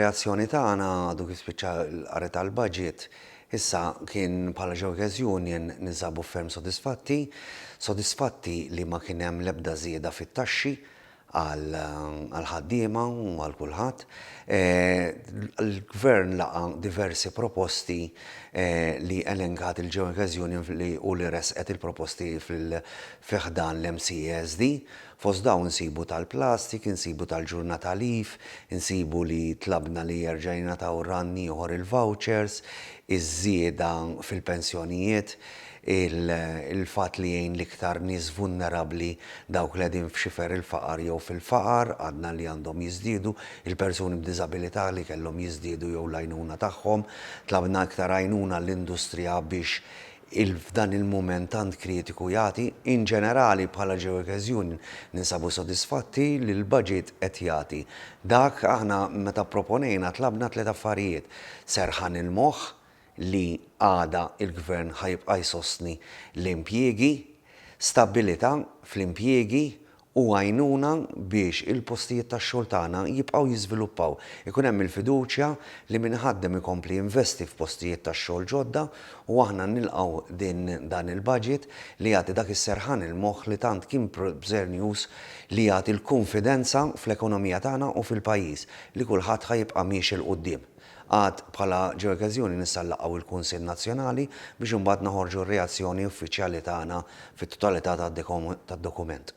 reazzjoni tagħna għadu kif spiċċa l-qari tal-budget issa kien bħala Jokers Union ninsabu ferm sodisfatti, sodisfatti li ma kien hemm l-ebda żieda fit-taxxi għal ħaddiema u għal kulħadd. E, Il-gvern laqa diversi proposti e, li elenkat il-Jokers Union u li resqet il-proposti fil-fiħdan l-MCSD e Fost dawn insibu tal-plastik, insibu tal-ġurnata leaf, insibu li tlabna li jerġa' jingħataw rann ieħor il-vouchers, iż-żieda fil-pensjonijiet, il-fatt li jgħin l-iktar nies vulnerabbli, dawk li qegħdin f'xifer il-faqar jew fil-faqar, għadna li għandhom jiżdiedu, il-persuni b'diżabilità li kellhom jiżdiedu jew l-għajnuna tagħhom. Tlabna iktar għajnuna għall-industrija biex il f'dan il-mument tant kritiku jagħti. In ġenerali, bħala Geoworkers Union, ninsabu sodisfatti li l-baġit qed jagħti dak, aħna meta pproponejna tlabna tliet affarijiet, serħan il-moħħ li għada l-Gvern ħa jibqa' jsostni l-impjiegi, stabbilità fl-impjiegi u għajnuna biex il-postijiet tax-xogħol tagħna jibqgħu jiżviluppaw, ikun hemm il-fiduċja li min iħaddem ikompli jinvesti f'postijiet tax-xogħol ġodda u aħna nilqgħu din dan il-budget li jagħti dak is-serħan il-moħħ li tant kien bżernjuż li jagħti l-kunfidenza fl-ekonomija tagħna u fil-pajjiż li kulħadd ħa jibqa' miexi 'l quddiem. Għad bħala ġeokeżjoni nista' nlaqgħu il-Kunsill Nazzjonali biex imbagħad noħorġu r-reazzjoni uffiċjali tagħna fit-totalità tad-dokument.